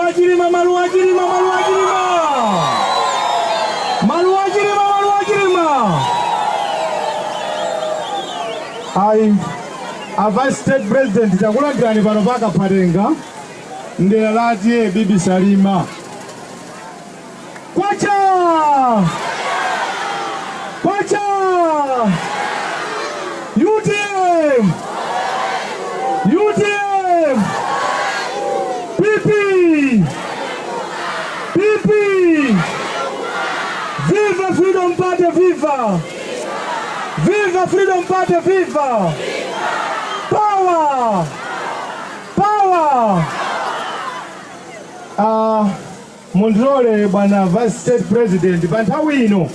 Chilima Maluwa Chilima Maluwa Chilima Maluwa Chilima Maluwa Chilima ayi a vice state president takulandirani pano pa Kaphatenga mdera la TA Bibi Salima Kwacha! Kwacha! UTM! UTM! PP! PP! Viva Freedom Party, viva! Viva Freedom Party, viva! Power! Power! Uh, Mundilole bwana Vice State President, pa nthawi ino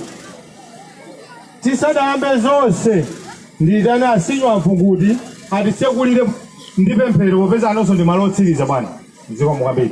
tisadayambe zonse ndiyitane a Sinya Mvu kuti atitsekulire ndi pemphero popeza anonso ndi malo otsiriza bwana mzika Nkambiri.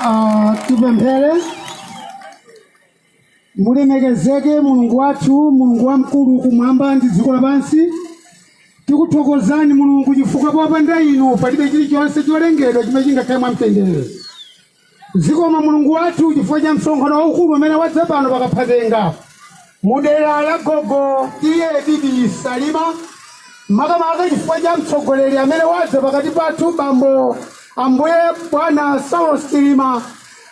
Ah, tipemphere mulemekezeke mulungu wathu mulungu wamkulu kumwamba ndi dziko lapansi tikuthokozani mulungu chifukwa popanda inu palibe chilichonse cholengedwa chimene chingakhale mwamtendere zikomo mulungu wathu chifukwa cha msonkhano waukulu umene wadza pano pakaphatenga Mu dera la gogo TA Bibi Salima, makamaka chifukwa cha mtsogoleri amene wadza pakati pathu bambo Ambuye Bwana Saulos Chilima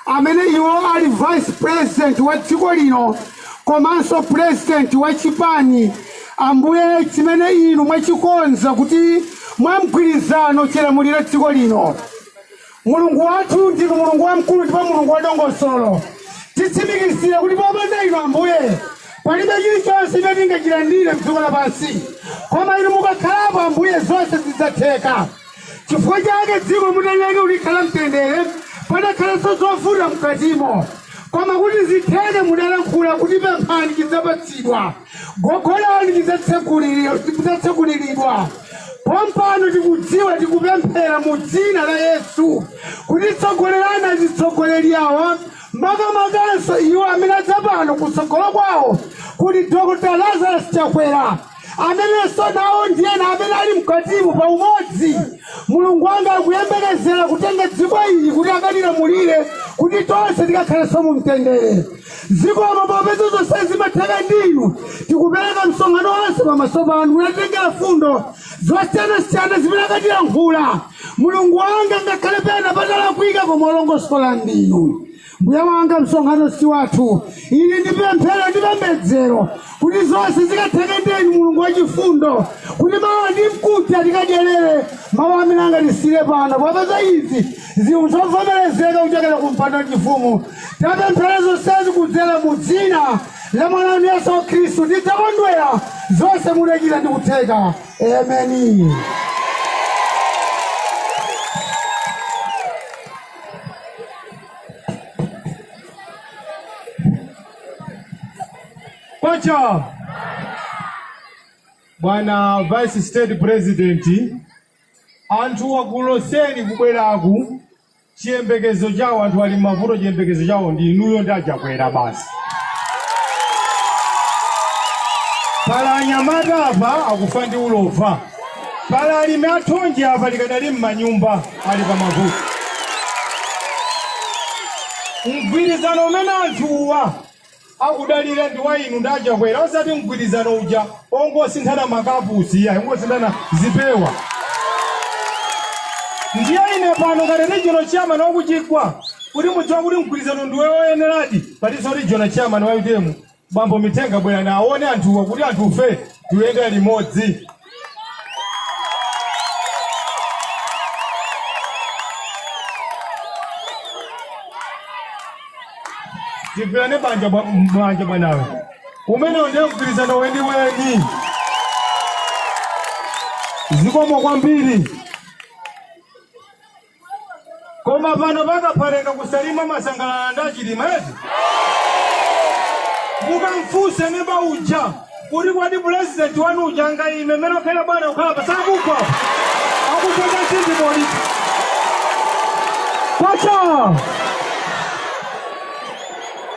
amene iwo ali vice president wa dziko lino komanso president wa chipani Ambuye chimene inu mwachikonza kuti mwa mgwirizano chilamulire dziko lino. Mulungu wathu ndinu Mulungu wamkulu ndipo Mulungu wadongosolo. Titsimikizira kuti popanda inu Ambuye palibe chilichonse chimene tingachilandire m'dziko lapansi, koma inu mukakhalapo Ambuye zonse zidzatheka. Chifukwa chake dziko mutalilenga kulikhala mtendere, padakhalanso zovuta mkatimo, koma kuti zitheke mudalankhula kuti pemphani chidzapatsidwa. Gogodani chidzatseguliridwa. Pompano tikudziwa tikupemphera mu dzina la Yesu kuti tsogolerani azitsogoleri awa makamakanso iwo amene adza pano kutsogolo kwawo kuli Dr. Lazarus Chakwera amenenso nawo ndi ena amene ali mkatimo pa umodzi mulungu wanga akuyembekezera kutenga dziko ili kuti akalilamulire kuti tonse tikakhalenso mu mtendere Zikomo popeza zonse zimatheka ndi inu. Tikupereka msonkhano wonse pamaso panu kuti titengere fundo zosiyanasiyana zimene akatilankhula. Mulungu wanga ngakhale pena patalakwika koma olongosola ndinu. Mbuye wanga msonkhano si wathu. Ili ndi pemphero ndi pembedzero kuti zonse zikatheke ndi inu Mulungu wachifundo kuti mawa ndi mkuja tikadyerere mawu amene angatisiire pano popeza izi Zinthu zovomerezeka kuchokera ku mpando wachifumu tapemphera zonsezi kudzera mu dzina la mwana wanu Yesu Khristu tidzakondwera zonse mudachita ndi kutheka. Ameni. Kwacha! Bwana Vice State President Anthuwa ku Loseni kubweraku chiyembekezo chawo, anthu ali mmavuto chiyembekezo chawo ndi inuyo ndi a Chakwera basi. Pali anyamata apa akufa ndi ulova, pali alimi athonje apa likadali mmanyumba ali pa mavuto. Mgwirizano umene anthuwa akudalira ndi wa inu ndi a Chakwera osati mgwirizano uja ongosinthana makapusi iyayi ongosinthana zipewa ndiye ine pano ngati regional chairman wakuchigwa kuti mudziwe kuti mgwirizano ndi woyeneradi palinso regional chairman wa utm bambo mitenga bwerani aone anthuwa kuti anthufe tuyenda limodzi tigwirane manja bwanawe umenewo ndiye mgwirizano weniweni zikomo kwambiri Koma pano pa Kaphatenga ku Salima mwasangalala ndi a Chilima eti mukamfunse neba uja kuti kodi pulezidenti wanu uja angayime mmene akhera bwana kukhala pasakugwa akuchota chindibodi kwacha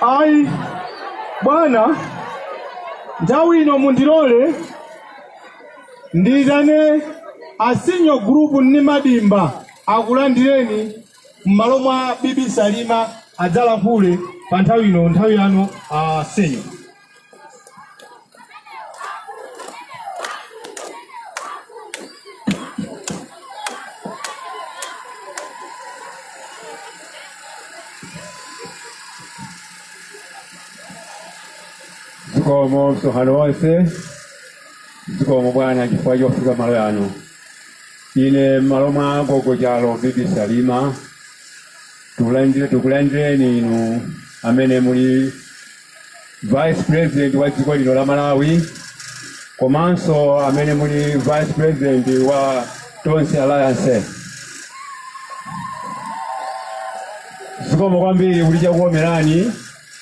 ayi bwana nthawi ino mundilole Ndiitane a Senior Group Nnimadimba akulandireni m'malo mwa Bibi Salima adzalankhule pa nthawi ino, nthawi yanu a Senior. Zikomo msonkhano wonse zikomo bwana chifukwa chofika malo yano ine m'malo mwa agogo chalo bibi salima tikulandireni inu amene muli vice president wa dziko lino la malawi komanso amene muli vice president wa tonse alliance zikomo kwambiri kuti chakukomerani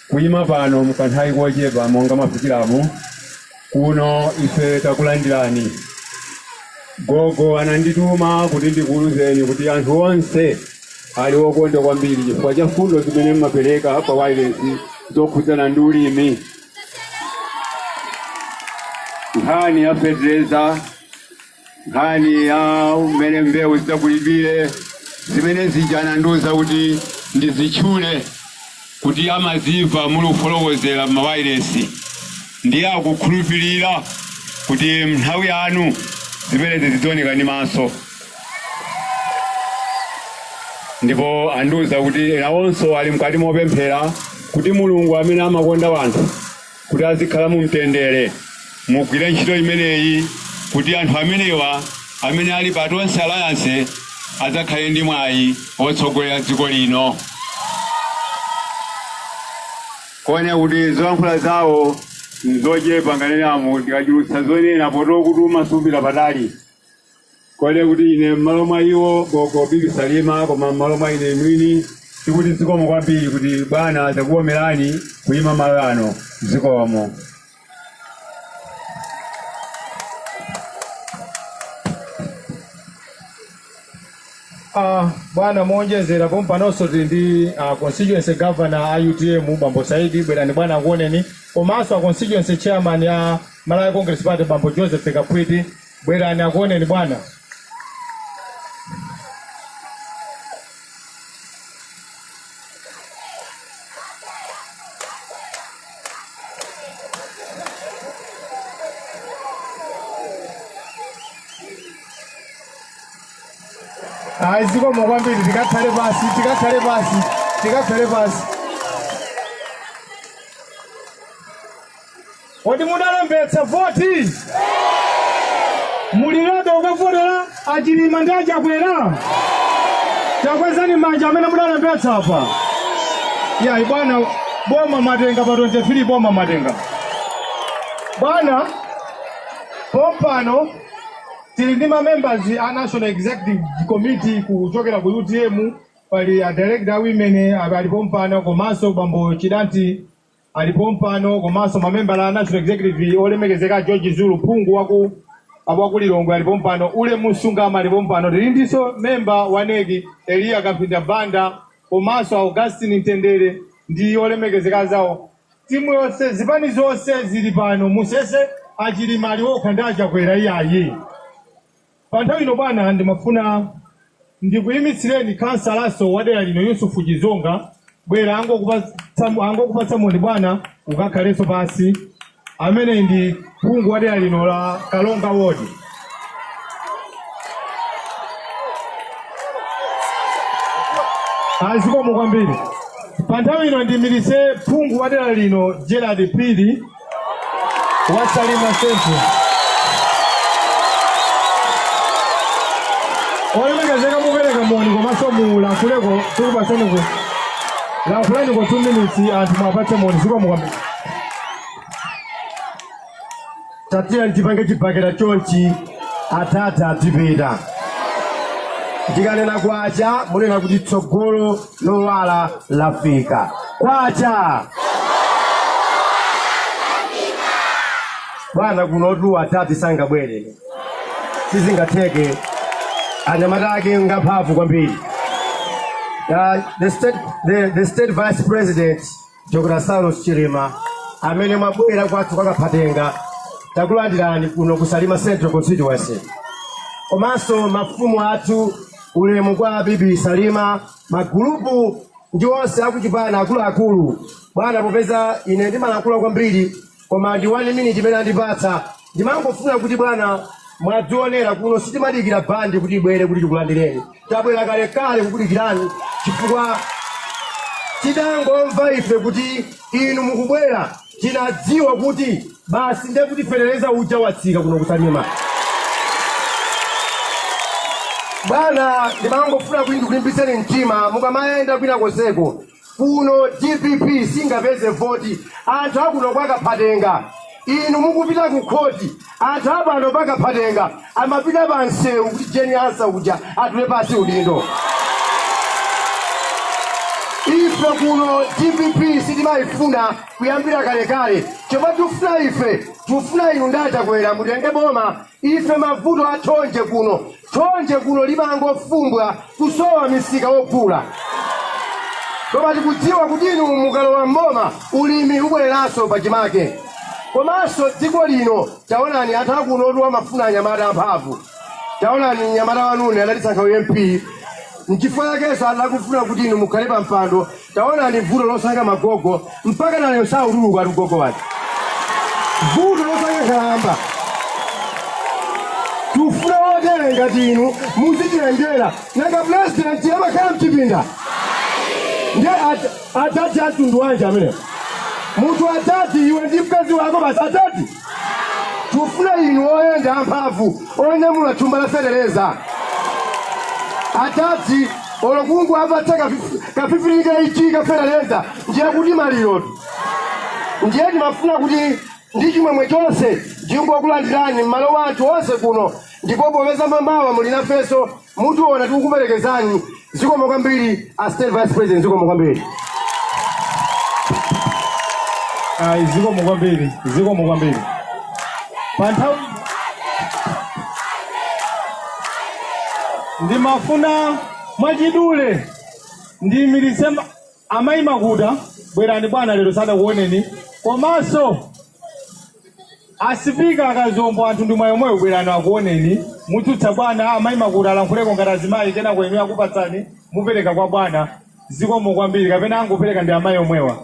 kuyima pano mkanthawi kochepa monga mwafikiramu Kuno ife takulandirani. Gogo anandituma kuti ndikuwuzeni kuti anthu onse ali okondwa kwambiri chifukwa cha mfundo zimene mumapereka pa wailesi zokhudzana ndi ulimi. Nkhani ya fetereza nkhani ya mmene mbewu zidzagulidwire zimene zija anandiuza kuti ndizitchule kuti amazimva muli kufotokozera m'mawayilesi ndiye akukhulupirira kuti m'nthawi yanu zimenezi zidzaoneka ndi maso ndipo andiuza kuti nawonso ali mkati mopemphera kuti mulungu amene amakonda wanthu kuti azikhala mu mtendere mugwire ntchito imeneyi kuti anthu amenewa amene ali pa tonse alliance adzakhale ndi mwayi wotsogolera dziko lino poona kuti zolankhula zawo nzochepa nganene ndikachulutsa zonena potokutuma sumapita patali Kunena kuti ine m'malo mwa iwo gogo Bibi Salima koma m'malo mwa ine mwini tikuti zikomo kwambiri kuti bwana zakukomerani kuyima malo ano zikomo. Bwana muonjezera pompanonso tili ndi constituency governor a utm bambo saidi bwerani bwana akuoneni komanso a constituency chairman a malawi congress party bambo joseph Kapwiti Bwerani akuoneni bwana. Ayi zikomo kwambiri tikakhale pasi tikakhale pasi tikakhale pasi. Kodi mudalembetsa voti? Muli ready kukavotera achilima ndi achakwera? Takwezani manja amene mudalembetsa apa. Iyayi bwana boma mwatenga pa 23 boma mwatenga. Bwana pompano tili ndi ma members a National Executive Committee kuchokera ku UTM pali a director women ali pompano komanso bambo Chidanti ali pompano komanso mamembala a National Executive olemekezeka George Zulu phungu waku Lilongwe ali pompano Ulemu Msungama ali pompano tili ndinso memba wa NEC Eliya Kamphinda Banda komanso Augustine Mtendere ndi olemekezeka anzawo timu yonse zipani zonse zili pano musaone achilima ali okha ndi achakwera iyayi Pa nthawi ino bwana ndimafuna ndikuyimitsireni khansalanso wa dera lino Yusufu Chizonga bwera angokupatsa moni bwana ukakhalenso pansi amene ndi phungu wa dera lino la Kalonga Ward. Azikomo kwambiri. Pa nthawi ino ndiimiritse phungu wa dera lino Gerald Phiri wa Salima Central. Olemekezeka mupereka moni komanso mulankhuleko tikupatseniko lankhulaniko 2 minutes anthu mwapatse moni zikomo kwambiri tatiya tipange chibakera chonchi athatha atipita ndikanena kwacha munena kuti tsogolo lowala lafika kwacha bwana kunotu atati sangabwere sizingatheke anyamata ake ngamphamvu kwambiri Uh, the, state, the, the state vice president Dr. Saulos Chilima amene mwabwera kwathu kwa Kaphatenga takulandirani kuno ku Salima Central Constituency. Komanso mafumu athu ulemu kwa bibi Salima, magulupu ndi onse akuchipani akuluakulu. Bwana, popeza ine ndimalankhula kwambiri koma ndi 1 minute imene andipatsa ndimangofuna kuti bwana mwadzionera kuno sitimadikira bandi kuti ibwere kuti tikulandireni tabwera kalekale kukudikirani chifukwa tidangomva ife kuti inu mukubwera tinadziwa kuti basi ndiye kuti fetereza uja watsika kuno ku Salima bwana ndimangofuna kuti ndikulimbitseni mtima mukamayenda kwina konseko kuno dpp singapeze voti anthu akuno kwa Kaphatenga inu mukupita ku khoti anthu apano pa Kaphatenga amapita pa msewu kuti Jane Ansah uja atule pansi udindo ife kuno dpp sitimayifuna kuyambira kalekale chomwe tikufuna ife tikufuna inu nda Chakwera mutenge boma ife mavuto a thonje kuno thonje kuno limangofumbwa kusowa misika wogula koma tikudziwa kuti inu mukalowa mboma ulimi ubwereranso pachimake komanso dziko lino taonani anthu akunotu amafuna anyamata amphamvu taonani mnyamata wanune adatisankha u MP nchifukwa chakenso adakufuna kuti inu mukhale pa mpando taonani vuto losankha magogo mpaka nalero sakutuluka ati ugogo wake vuto losankha nkhalamba tufuna wotere ngati inu muzitiyendera nanga pulezidenti amakhala mchipinda nde at- atati amtundu wanji amenewo munthu atati iwe ndi mkazi wako basi atati tufuna inu oyenda amphamvu onyamula thumba la fetereza atati olo kungowapatsa kafi- ka 50 kg ka fetereza ndiye kuti maliro ndiye ndimafuna kuti ndi chimwemwe chonse ndingokulandirani m'malo mwa anthu onse kuno ndipo popeza mamawa muli nafenso Mutiona tikukuperekezani zikomo kwambiri a state vice president zikomo kwambiri ayi zikomo kwambiri zikomo kwambiri pa nthawi ino ndimafuna mwachidule ndiyimiritse ma- amayi makuta bwerani bwana lero sadakuoneni komanso Asipika akazombo anthu ndi mwayi omwewo bwerani akuoneni mutsutsa bwana amayi makuta alankhuleko ngati azimayi kenako inuyo akupatsani mupereka kwa bwana zikomo kwambiri kapena angopereka ndi amayi omwewa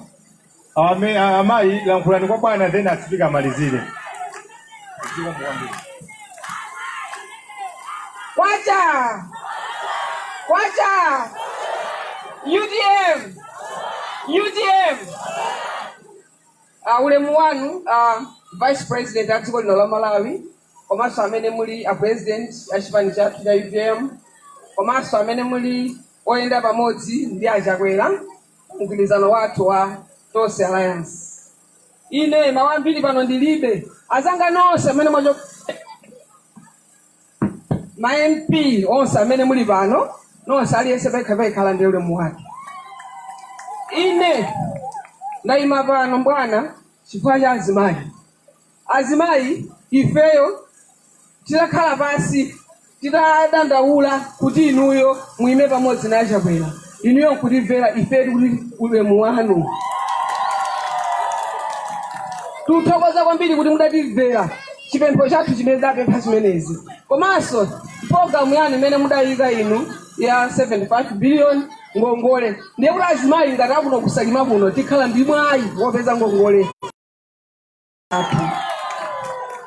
Ame, amayi lankhulani kwa bwana then asipika amalizire zikomo kwambiri Kwacha! Kwacha! UTM! UTM! A, Ulemu wanu a Vice President a dziko lino la Malawi komanso amene muli a President a chipani chathu cha utm komanso amene muli oyenda pamodzi ndi a Chakwera pa mgwirizano wathu wa Tonse Alliance. Ine mawu ambiri pano ndilibe. Azanga nonse amene mwacho-. ma MP onse amene muli pano nonse aliyense payekha payekha alandire ulemu wake. Ine ndayima pano bwana chifukwa cha azimayi. Azimayi ifeyo tidakhala pansi tidadandaula kuti inuyo muyime pamodzi na a Chakwera. inuyo nkutimvera ife tikuti ulemu wanu tikuthokoza kwambiri kuti mudatimvera chipempho chathu chimene tidapempha chimenechi komanso programu yanu imene mudayika inu ya 75 billion ngongole ndiye kuti azimayi ngati akuno ku Salima kuno tikhala ndi mwayi wopeza ngongole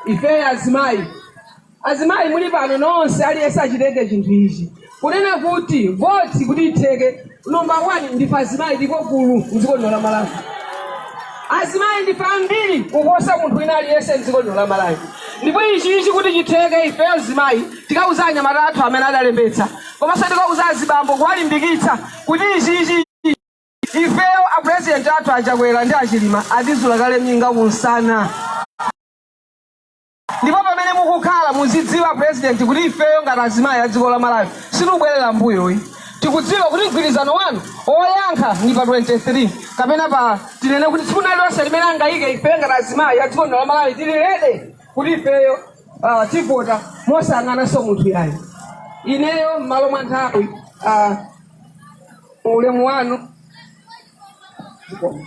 ifeyo azimayi azimayi muli pano nonse aliyense achitenge chinthu ichi kunena kuti voti kuti itheke nomba wani ndife azimayi ndipo gulu mdziko lino la malawi azimayi ndife ambiri kuposa munthu wina aliyense mdziko lino la malawi ndipo ichi ichi kuti chitheke ifeyo azimayi tikauza anyamata athu amene adalembetsa komanso tikauza azibambo kuwalimbikitsa kuti ichi ichi Ifeyo a president athu achakwera ndi achilima atizula kale minga kunsana ndipo pamene mukukhala muzidziwa president kuti ifeyo ngati azimayi a dziko la malawi sitikubwerera mbuyoyi tikudziwa kuti mgwirizano wanu woyankha ndi pa 23 kapena pa tinene kuti tsiku lililonse limene angayike ifeyo ngati azimayi a dziko lino la malawi tili rede kuti ifeyo ah, tivota mosayang'ananso munthu yayi ineyo m'malo mwa nthawi ah, ulemu wanu Zikomo.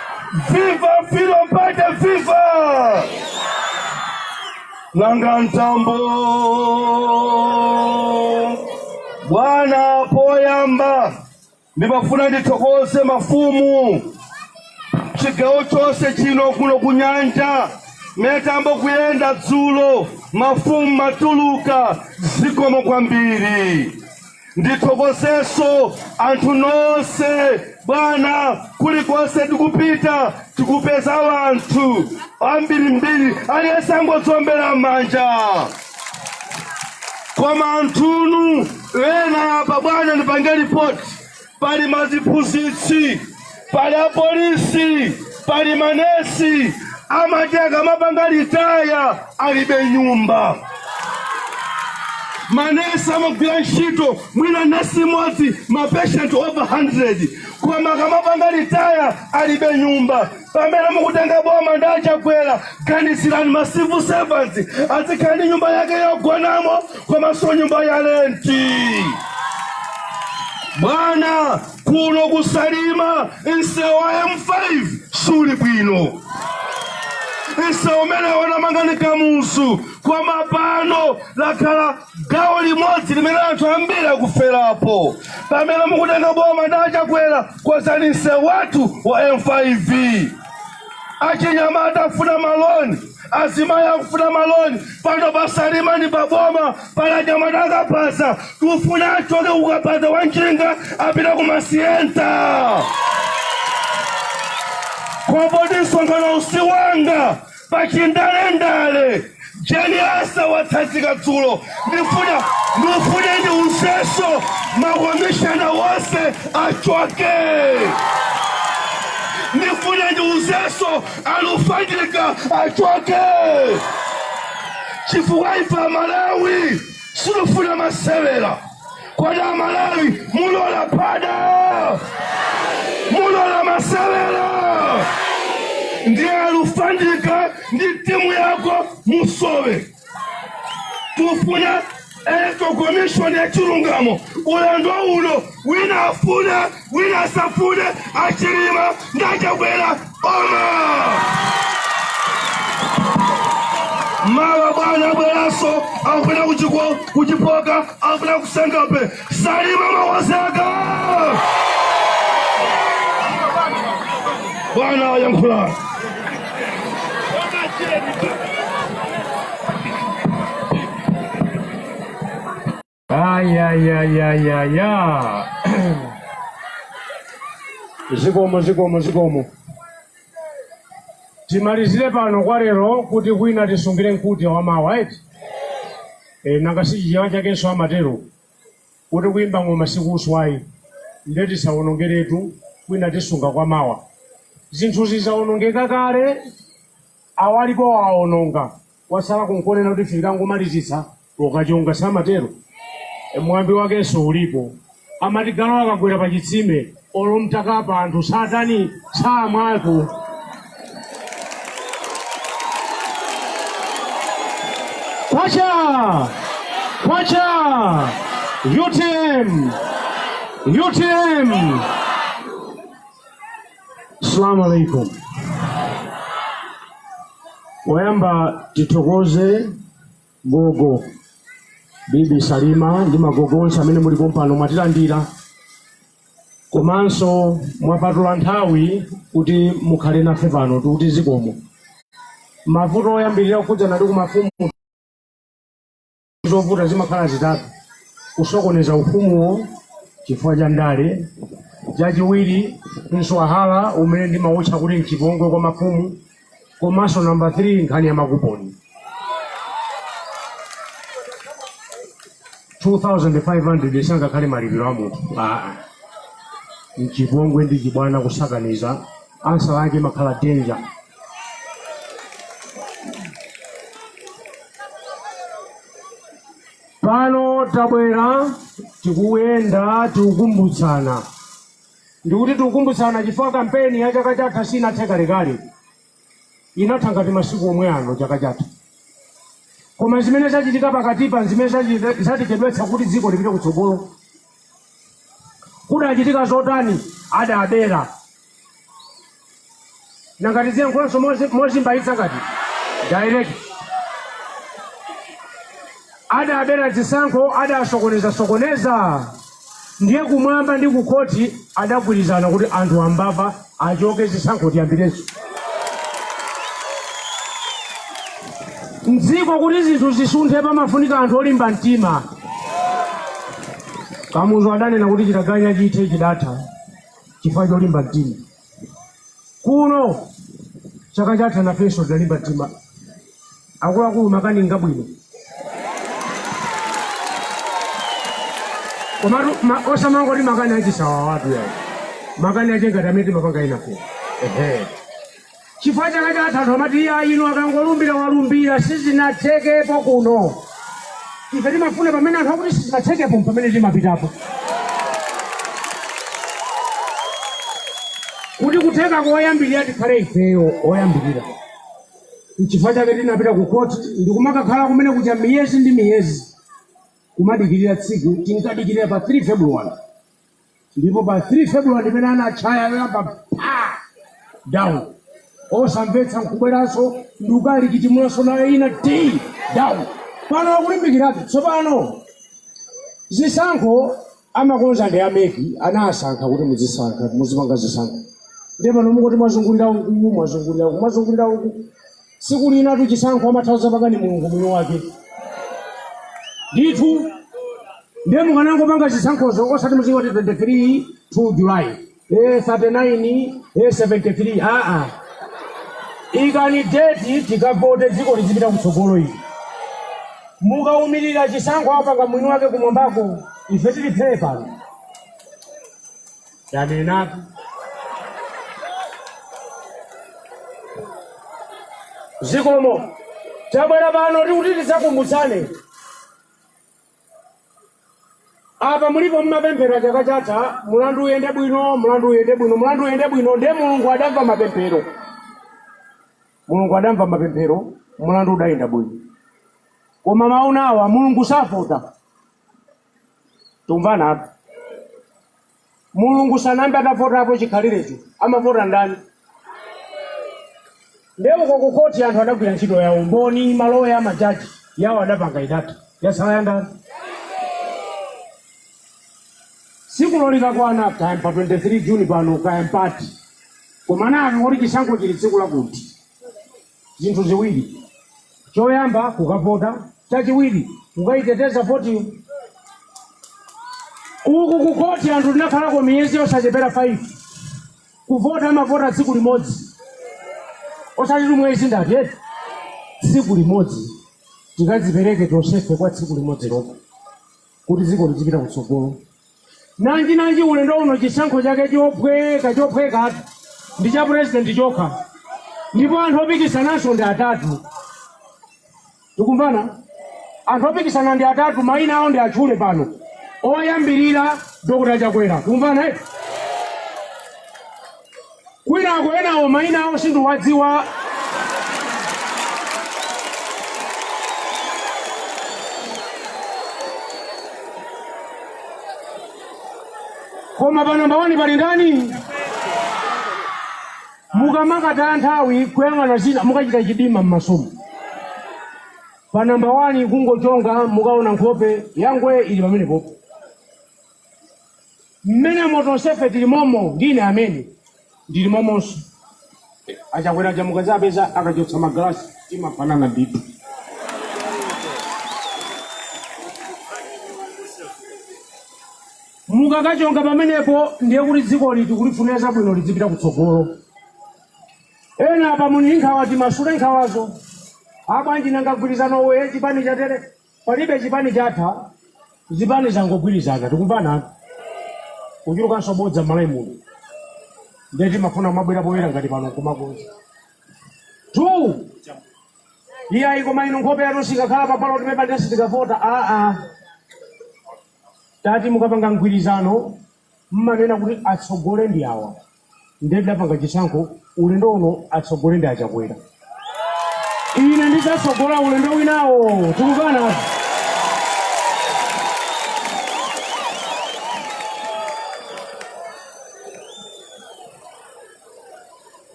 Viva Freedom Party, viva! Nanga Mtambo bwana poyamba ndimafuna ndithokoze mafumu chigawo chonse chino kuno kunyanja mmene tayamba kuyenda dzulo mafumu mwatuluka zikomo kwambiri ndithokozeso anthu nonse bwana kulikonse tikupita tikupeza wanthu ambirimbiri aliyense angotiombera manja koma anthunu ena apa bwana ndipange ripoti pali maziphunzitsi pali apolisi pali manesi amati akamapanga litaya alibe nyumba manesi amagwira ntchito mwina nesi imodzi mapeshenti over 100 koma akamapanga litaya alibe nyumba pamene mukutenga boma ndi a Chakwera ganizirani ma civil servants azikhala ndi nyumba yake yogonamo komanso nyumba ya lenti bwana kuno ku Salima msewu wa m5 suli bwino msewu umene anamanga ndi Kamuzu koma pano lakhala gawo limodzi limene anthu ambiri akuferapo pamene mukutenga boma ndi a Chakwera konzani msewu wathu wa m5 achinyamata akufuna maloni azimayi akufuna maloni pano pa Salima ndi paboma pali anyamata a kabaza tufuna achoke ku kabaza wa njinga apita ku ma Sienta koma poti msonkhanowu si wanga pachindalendale Jane Ansah watsanzika dzulo ndifuna ndifune ndiuzenso makomishona wonse achoke ndifune ndiuzenso Alufandika achoke chifukwa ife Amalawi situfuna masewera kodi Amalawi mulola phada mulola masewera ndiye Alufandika ndi timu yako musowe tufuna electoral commission ya chilungamo ulendo uno wina afuna wina asafune a Chilima nda Chakwera boma mawa bwana abweranso akufuna kuchiko ku Chipoka akufuna ku Senga Bay Salima mawazeka bwana wayankhula Ai, ai, ai, ai, ai, ai. zikomo zikomo zikomo timalizire pano kwa lero kuti kwina tisungire mkute wa mawa eti e, nanga si Chichewa chakenso amatero kuti kuyimba ng'oma sikuswayi nde tisawonongeretu kwina tisunga kwa mawa zinthu zizawonongeka kale Awa alipowa awononga kwasala kungonena kuti ife tikangomalizitsa ukachonga samatero? Mwambi wakenso ulipo amati galu akagwera pa chitsime olo mtakapa anthu satani? Samwako. Kwacha! Kwacha! UTM! UTM! Assalamu alaikum. Poyamba tithokoze gogo bibi Salima ndi magogo onse amene muli pompano mwatilandira komanso mwapatula nthawi kuti mukhale nafe pano tikuti zikomo mavuto oyambirira kukhudzana ndi kumafumu zovuta zimakhala zitatu kusokoneza ufumuwo chifukwa cha ndale chachiwiri mswahala umene ndimawutcha kuti mchipongwe kwa mafumu komanso namba 3 nkhani ya makuponi 2500 sangakhale malipiro a munthu aa mchipongwe ndi chibwana kusakaniza ansa lake makhala danger pano tabwera tikuyenda tikukumbutsana ndikuti tikukumbutsana chifukwa kampeni ya chaka chatha sinathe kalekale inatha ngati masiku omwe ano chaka chatha koma zimene zachitika pakatipa zimene zachi- zatichedwetsa kuti dziko lipite kutsogolo kudachitika zotani adabera nangati ziyankhulanso mozi- mozimbayitsa ngati direct adabera zisankho adasokoneza sokoneza ndiye kumwamba ndi kukhoti adagwirizana kuti anthu ambava achoke zisankho tiyambirenso mdziko kuti zinthu zisunthe pamafunika anthu olimba mtima kamuzu adanena kuti chitaganya chithe chidatha chifukwa cholimba mtima. Kuno chaka chatha nafenso tinalimba mtima. Akuluakulu makani ngabwino. Komatu ma- osamangoti makani achisawawatu iyayi. Makani ache ngati amene timapanga enafe. Ehe. Chifukwa chaka chatha anthu amati iyayi uyu akangolumbira walumbira sizinathekepo kuno. Ife timafuna pamene anthu akuti sizinathekepo mpamene timapitapo. Kuti kutheka koyambirira tikhale ifeyo oyambirira. N'chifukwa chake tinapita ku khoti ndi kumakakhala kumene kucha miyezi ndi miyezi kumadikirira tsiku tinkadikirira pa 3 February ndipo pa 3 february mpamene anatchaya yoyamba pa down osamvetsa nkubweranso ndi ukali kutimulanso nayo ina ti down pano akulimbikiratu tsopano zisankho amakonza ndi ameki anasankha kuti muzisankha muzipanga zisankho ndiye pano mungoti mwazungulira uku mwazungulira uku mwazungulira uku tsiku linatu chisankho amatha kuzapanga ndi mulungu mwini wake ndithu ndiye mukanangopanga zisankhozo osati muzingoti 23 2 july eh, 39 eh, 73 aa ikani deti tikavote dziko lizipita kutsogolo ili mukaumirira chisankho apanga mwini wake kumwambako ife tili phee pano Tanenatu zikomo tabwera pano tikuti tisakumbutsane apa mulipo mmapemphera chaka chatha mulandu uyende bwino mulandu uyende bwino mulandu uyende bwino ndiye mulungu adamva mapemphero mulungu adamva mapemphero mulandu udayenda bwino koma mawu nawa mulungu savota Timvana apa. Mulungu sanayambe atavotapo chikhalirecho. Amavota ndani? Ndiye uko ku khoti anthu adagwira ntchito ya umboni, maloya, majaji yawo adapanga itatu. Yasala ya ndani? Tsikulo likakwana kaya pa 23 Juni pano kaya mpati. Koma nafe kuti chisankho chili tsiku lakuti. zinthu ziwiri. Choyamba kukavota, chachiwiri kukaiteteza votiyo. Uku ku khoti anthu tinakhalako miyezi yosachepera 5 kuvota amavota tsiku limodzi osati miyezi ndati eti tsiku limodzi tikadzipereke tonsefe kwa tsiku limodzi lokha kuti dziko lizipita kutsogolo nanji nanji ulendo uno chisankho chake chophweka chophwekatu ndi cha purezidenti chokha ndipo anthu opikisananso ndi atatu tikumvana anthu opikisana ndi atatu mayina awo ndiwatchule pano oyambirira dr chakwera tikumvana eh? kwinako enawo maina awo sindiwadziwa koma pa namba wani pali ndani mukamakataya nthawi kuyang'ana zina mukachita chidima m'masomu pa namba wani kungochonga mukaona nkhope yanga ili pamenepopo Mmenemo tonsefe tili momo ndi ine amene ndili momonso. Achakwera aja mukazawapeza akachotsa magalasi timafanana ndithu. Mukakachonga pamenepo ndiye kuti dzikoli tikulifunira zabwino lidzipita kutsogolo. Ena apa muli ndi nkhawa timasule nkhawazo. Abwanji nanga mgwirizanowu chipani chatere Palibe chipani chatha zipani zangogwirizana tikumvanatu kuchulukanso bodza m'Malawi muno ndiye timafuna kumabwera poyera ngati pano nkumakonza tu iyayi koma inu nkhope yanu siikakhala pa ballot paper ndiye sitikavota aa tati mukapanga mgwirizano Mmanena kuti atsogole ndi awa nde tidapanga chisankho ulendo uno atsogole ndi achakwera ine ndizatsogola ulendo winawo tikumvana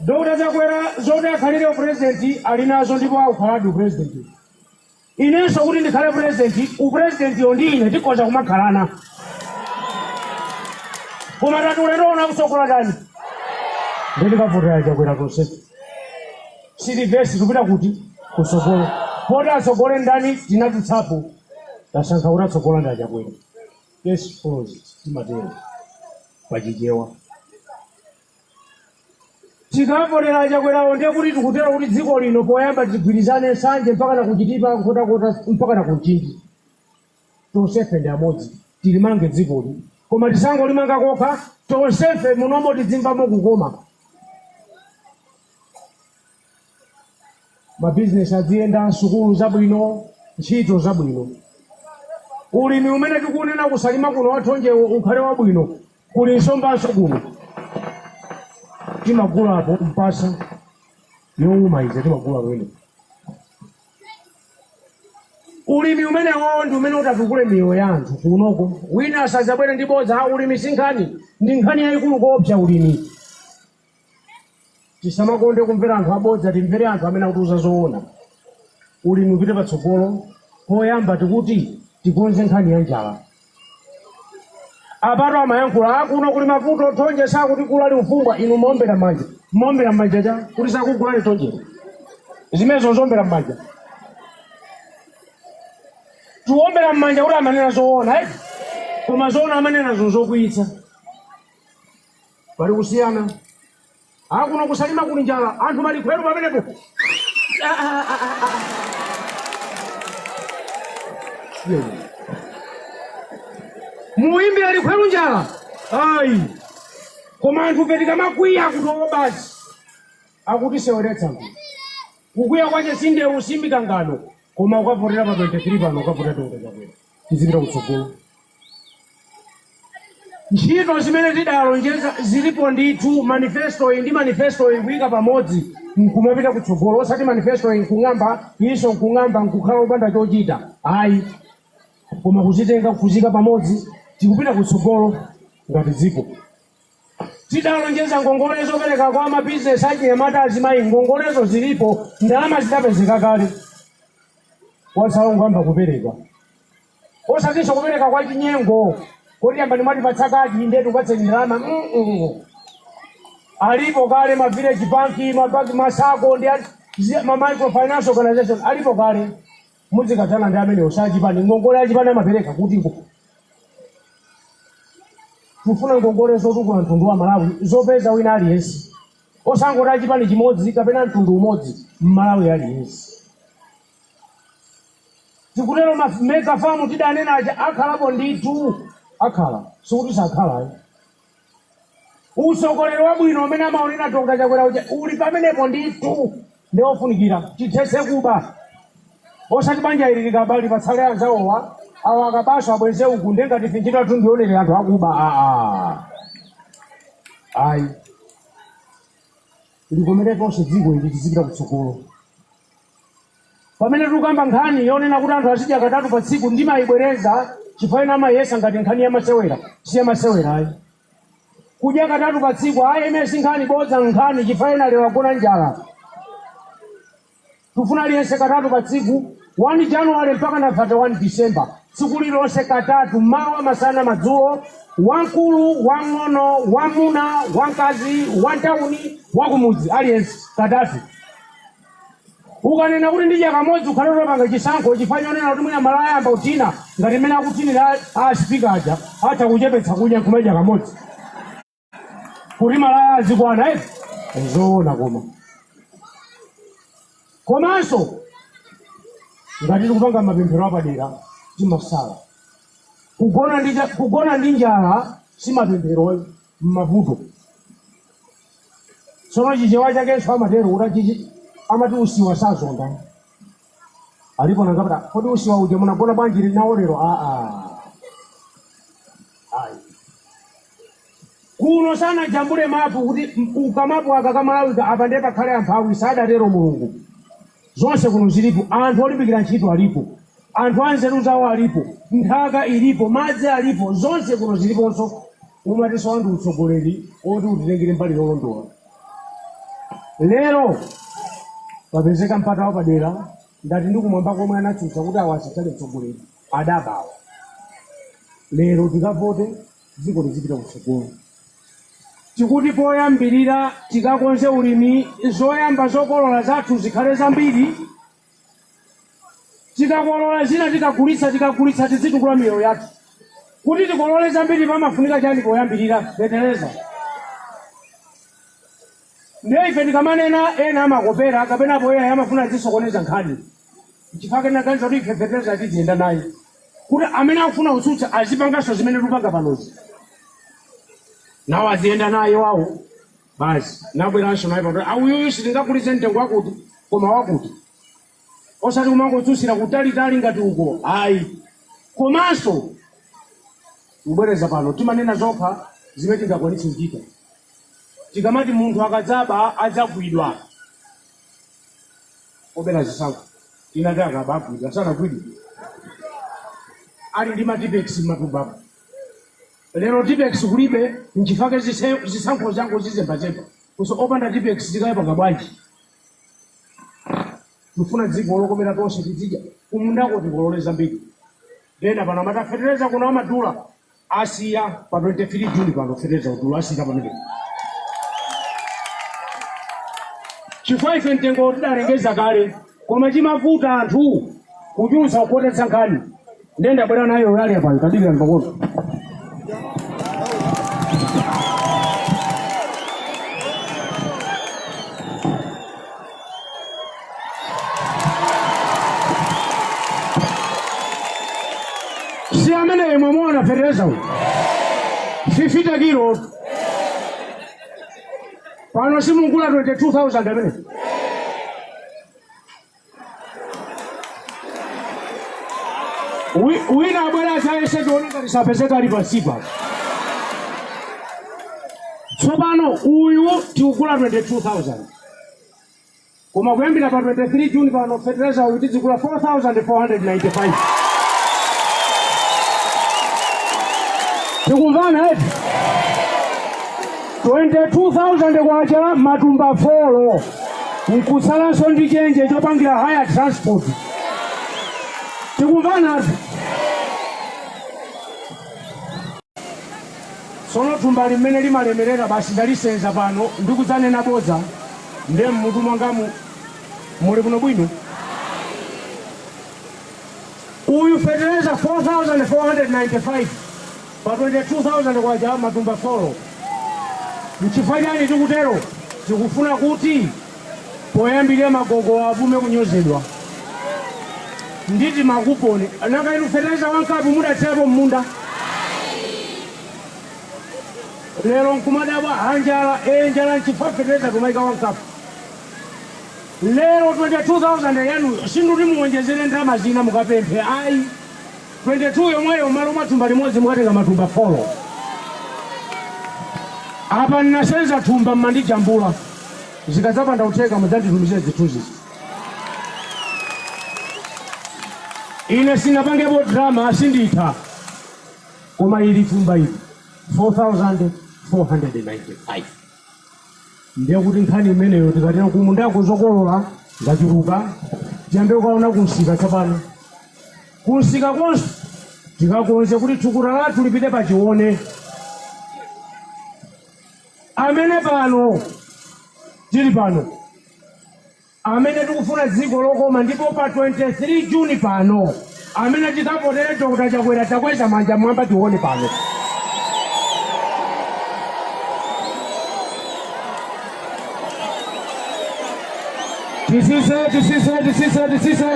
dr chakwera zoti akhalire upresident ali nazo ndipo akukhaladi upresident Inenso kuti ndikhale president, u president yo ndi ine tikhoza kumakhalana. Koma tati ulendo uno akutsogola ndani? Nde tikavotera achakwera tonse. Si livesi tikupita kuti kutsogolo. Poti atsogole ndani tinadutsapo. Tasankha kuti atsogola ndi achakwera. Yes, follows. Timatero. Pachichewa. Tikavotera achakwerawo ndiye kuti tikutero kuti dziko lino poyamba tigwirizane nsanje mpakana ku chitipa, nkhotakota mpakana ku mchinji tonsefe ndi amodzi tilimange dzikoli koma tisangolimanga kokha tonsefe munomo tidzimvamo kukoma. mabizinesi adziyenda sukulu zabwino ntchito zabwino ulimi umene tikunena ku Salima kuno wathonjewo ukhale wabwino kuli nsombanso kuno timagulapo mpasa yowuma ija timagula kumene ulimi umenewo ndi umene utatukule miyoyo ya anthu kunoko wina asadzabwere ndi bodza "Ah, ulimi si nkhani ndi nkhani yayikulu koopsa ulimi Tisamakonde kumvera anthu abodza timvere anthu amene akutiuza zoona. Ulimi upite patsogolo poyamba tikuti tikonze nkhani ya njala. Apatu amayankhula akuno kuli mavuto thonje sakutigula likufumbwa inu muombera mmanja. Muombera mmanja chakuti sakugulani thonjero. Zimenezo nzombera mmanja. Tiwombera mmanja kuti amanena zoona eti. Koma zoona amanenazo nzokwiyitsa. pali kusiyana akuno ku Salima kuli njala anthu malikhweru pamenepo muimbire likhweru njala ayi koma anthu pena tikamakwiya kuti oo basi akutiseweretsa mbi kukwiya kwake si ndewu si mikangano koma ukavotera pa 23 pano ukavotera Dr. Chakwera tizipita kutsogolo ntchito zimene tidalonjeza zilipo ndithu manifesto iyi ndi manifesto iyi kuyika pamodzi nkumapita kutsogolo osati manifesto iyi nkung'amba iyinso nkung'amba nkukhala opanda chochita ayi koma kuzitenga kuzika pamodzi tikupita kutsogolo ngati dziko Tidalonjeza ngongole zopereka kwa mabizinesi, achinyamata, azimayi. Ngongolezo zilipo, ndalama zidapezeka kale. Kwatsala kungoyamba kupereka. Osatinso kupereka kwachinyengo koti yambani mwatipatsa kadi ndiye tikupatseni ndalama. Mm-mm. Alipo kale ma village bank, ma banki, ma sacco ndi a- zi- ma microfinance organization alipo kale. Muzikathana ndi amenewo osati chipani ngongole achipani amapereka kutiko? Tikufuna ngongole zotukula mtundu wa Malawi zopeza wina aliyense osangoti achipani chimodzi kapena mtundu umodzi mmalawi aliyense. Tikutero ma mega farm tidanena aja akhalapo ndithu akhala sikuti sakhala ayi. Usogoleri wabwino umene amaunena Dr. Chakwera uja uli pamenepo ndithu ndi ofunikira tithetse kuba osati banja ili likaba lipatsale anzawowa awa akabanso abweze uku nde ngati ife ntchito yathu ndi yoonelera anthu akuba aa ayi likomere tonse dziko ili tizipita kutsogolo Pamene tukamba nkhani yonena kuti anthu azidya katatu pa tsiku, ndimaibwereza chifukwa ena amaiyesa ngati nkhani yamasewera. Si yamasewera ayi. Kudya katatu pa tsiku, ayi imene si nkhani, bodza n'nkhani chifukwa ena lero agona njala. Tikufuna aliyense katatu pa tsiku, 1 January mpaka na 31 December, tsiku lililonse katatu, mawa, masana, madzulo, wamkulu, wamng'ono, wamuna, wamkazi, wantawuni, wakumudzi, aliyense katatu. ukanena kuti ndidya kamodzi ukhale wopanga chisankho chifukwa chonena kuti mwina malaya ayamba kuthina ngati mmene akuthinira a asipika aja atha kuchepetsa kudya nkumadya kamodzi kuti malaya azikwana eti zoona koma komanso ngati tikupanga mapemphero apadera timasala kugona ndi cha- kugona ndi njala si mapemphero m'mavuto. Tsono Chichewa chakenso amatero kuti achichi amati usiwa sazonda. Alipo nanga kuti, "Ah, kodi usiwa uja munagona bwanji nawo lero? Ah, ah. Ayi. Kuno sanajambule mapu kuti m- ku kamapu aka ka Malawi ka apa ndiye pakhale amphawi sadatero Mulungu. Zonse kuno zilipo, anthu olimbikira ntchito alipo, anthu anzeru zawo alipo, nthaka ilipo, madzi alipo, zonse kuno ziliponso. Umatisowa ndi utsogoleri oti utitengere mbali yolondola. Lero papezeka mpata wapadera ndati ndi kumwamba komwe anatsutsa kuti awa asakhale mtsogoleri adaba awa. Lero tikavote dziko lizipita kutsogolo. Tikuti poyambirira tikakonze ulimi zoyamba zokolola zathu zikhale zambiri, tikakolola zina tikagulitsa, tikagulitsa tidzitukula miyoyo yathu. Kuti tikolole zambiri pamafunika chani poyambirira? Fetereza. Ndiye ife tikamanena ena amakopera kapenapo ena amafuna azisokoneza nkhani. nchifake naganiza kuti ife fetereza tiziyenda naye kuti amene akufuna kutsutsa azipanganso zimene tikupanga panozi nawo aziyenda naye wawo basi nabweranso naye apa kuti uyuyu sitingagulitse mtengo wakuti koma wakuti osati kumangotsutsira kutalitali ngati uko ayi komanso kubwereza pano timanena zokha zimene tingakwanitse kuchita tikamati munthu akadzaba adzagwidwa obera zisankho tinati akaba agwidwa sanagwidwe ali ndi matipex m'matumbapo lero tipex kulibe nchifake zise- zisankho angozizembazemba kuso opanda tipex tikayipanga bwanji tifuna dziko lokomera tonse tidzidya kumundako tikolole zambiri nde ena pano amati a fetereza kuno amadula Asiya pa 23 June pano feteleza udula asiya pamene. Chifukwa ife mtengo tidalengeza kale koma chimavuta anthu kuchulutsa kukhotetsa nkhani. Ndiye ndabwera nayo yali apayo tadikira ndipakono. si ameneyo mwamuona fertilizer uyu 50 kilo pano simugula 22000 amene Wi- wina abwera atayese tione ngati sapezeka ali pasipa tsopano uyu tikugula 22000 koma kuyambira pa 23 juni pano fetereza uyu tidzigula 4495 tikumvana eti 22000 kwacha matumba folo nkutsalanso ndi chenje chopangira haya transport tikumvana ati Tsono thumba li mmene limalemerera basi ndalisenza pano ndi kudzanena bodza nde mmutu mwangamu muli bwino bwino? Uyu fetereza 4495 pa 22000 kwacha matumba folo. Nchifukwa chani tikutero? Tikufuna kuti poyambirira magogowa apume kunyozedwa ndi timakuponi. Nanga inu fetereza wa nkapu mudathirapo m'munda? Lero nkumadabwa a njala, ee njala nchifukwa fetereza kumaika wa nkapu. Lero 22,000 yanuyo sinduti muwonjezere ndalama zina mukapemphe ayi. 22 yomweyo m'malo mwa thumba limodzi mukatenga matumba 4 apa ndinasenza thumba mmandijambula zikadzapanda kutheka mudzanditumizire zithunzi ine sinapangepo drama asinditha koma ili thumba ili 4495 ndiye kuti nkhani imeneyo tikathera kumundako zokolola ngachuluka tiyambe kukaona kumsika tsopano kumsika konse tikakonze kuti thukuta lathu lipite pachione amene pano tili pano amene tikufuna dziko lokoma ndipo pa 23 June pano amene tikavotere Dr. Chakwera takwezani manja mwamba tione pano. Tisise, tisise, tisise, tisise.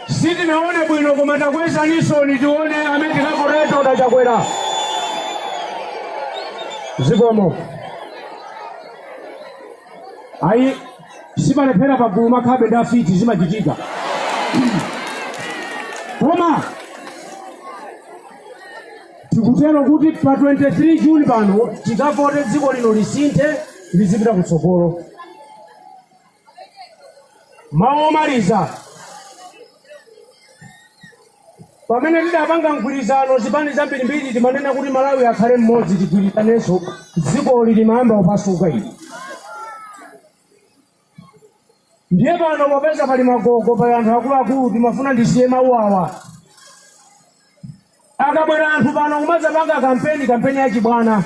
Sitinaone bwino koma takwezaninsoni tione amene tikavotere Dr. Chakwera. Zikomo. ayi sipalephera pagulu amakhalabe ndi afiti zimachitika koma tikutero kuti pa 23 juni pano tikavote dziko lino lisinthe lizipita kutsogolo mawu omaliza Pamene tidapanga mgwirizano zipani zambirimbiri timanena kuti Malawi akhale mmodzi ligwirizanenso dzikoli limayamba kupasuka ili. Ndiye pano popeza pali magogo pali anthu akuluakulu timafuna ndisiye mawu awa. Akabwera anthu pano kumadzapanga kampeni kampeni yachibwana.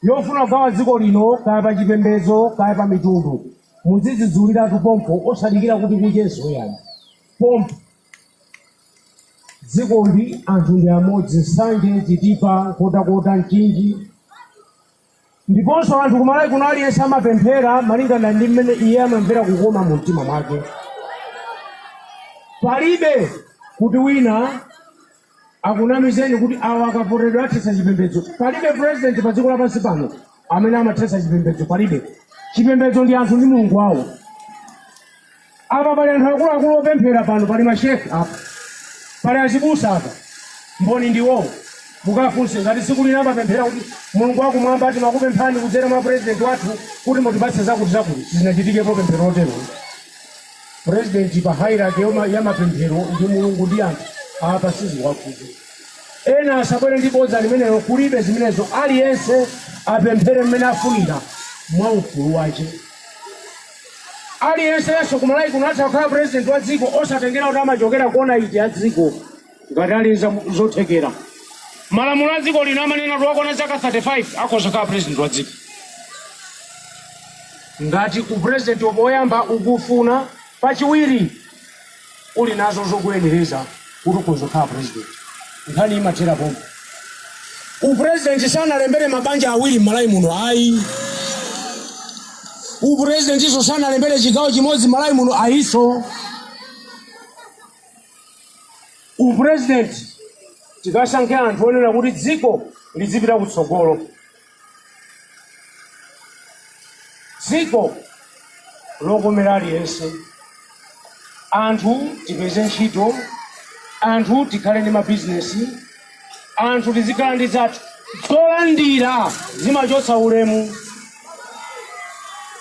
yofuna kugawa dziko lino kaya pa chipembedzo kaya pa mitundu muzidzudzuliratu pompo osadikira kuti kuchenso ayi pompo dziko ndi anthu ndi amodzi nsanje chitipa nkotakota mchinji ndiponso anthu kumalawi kuno aliyense amapemphera malinga ndi mmene iye amamvera kukoma mu mtima mwake palibe kuti wina akunamizeni kuti awa akavoteredwa athetsa chipembedzo palibe president pa dziko lapansi pano amene amathetsa chipembedzo palibe chipembedzo ndi anthu ndi mulungu wawo apa pali anthu akuluakulu opemphera pano pali mashehe apa pali azibusa apa mboni ndiwowo mukafunse ngati tsiku lina amapemphera kuti mulungu wakumwamba timakupemphani kudzera mwa president wathu kuti mutipatse zakuti zakuti sizinachitikepo pemphero lotero president pa hierarchy ya mapemphero ndi mulungu ndi anthu apa sadziwakotu ena asabwere ndi bodza limenelo kulibe zimenezo aliyense apemphere mmene afunira mwa ufulu wake aliyense yenso kumalawi kuno atha kukhala president wa dziko osatengera kuti amachokera kona iti ya dziko ngati ali nazo zothekera malamulo a dziko lino amanena kuti wakwana zaka 35 akhoza kukhala president wa dziko ngati upresident woyamba ukufuna pachiwiri uli nazo zokuyenereza kuti ukhoza kukhala president nkhani imathera pompo upresident sanalembere mabanja awiri m'malawi muno ayi upresidentinso sanalembere chigawo chimodzi m'malawi muno ayinso Upresident tikasankhe anthu onena kuti dziko lidzipita kutsogolo, dziko lokomera aliyense, anthu tipeze ntchito, anthu tikhale ndi ma business, anthu tizikhala ndi zathu zolandira zimachotsa ulemu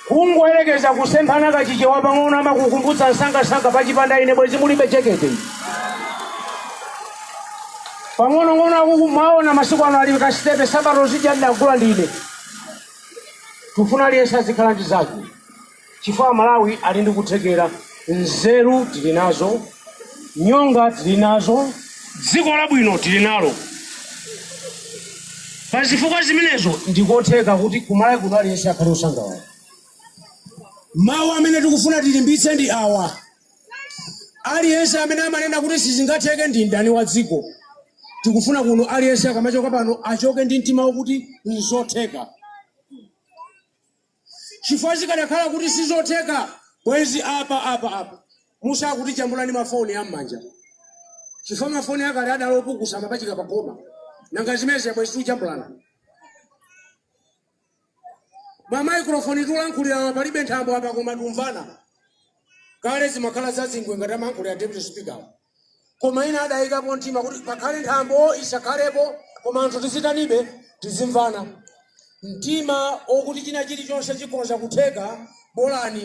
kungoyerekeza kusemphana Kachichewa pang'ono amakukumbutsa msangasanga pachipanda ine bwezi mulibe jekete pang'onong'ono akuku mwawaona masiku ano ali kasitepe nsapato zija ndagula ndine tufuna aliyense azikhala ndi zake chifukwa aMalawi ali ndi kuthekera, nzeru tili nazo, nyonga tili nazo, dziko labwino tili nalo. Pa zifukwa zimenezo ndikotheka kuti ku Malawi kuno aliyense akhale osangalala. Mawu amene tikufuna tilimbitse ndi awa, aliyense amene amanena kuti sizingatheke ndi mdani wa dziko. Tikufuna kuno aliyense akamachoka pano achoke ndi mtima wokuti nzotheka. Chifukwa zikadakhala kuti sizotheka bwezi apa apa a Mussa akutijambula ndi ma phone a mmanja. Chifukwa ma phone akale adali opukusa amapachika pa khoma. Nanga zimenezi bwezi tikujambulana. Ma microphone tulankhulira palibe nthambo apa koma tumvana. Kale zimakhala za zingwe ngati amayankhulira deputy speaker. Koma ena adaikapo mtima kuti pakhale nthambo isakhalepo koma anthu tizitanibe, tizimvana mtima wokuti china chilichonse chikhoza kutheka bolani.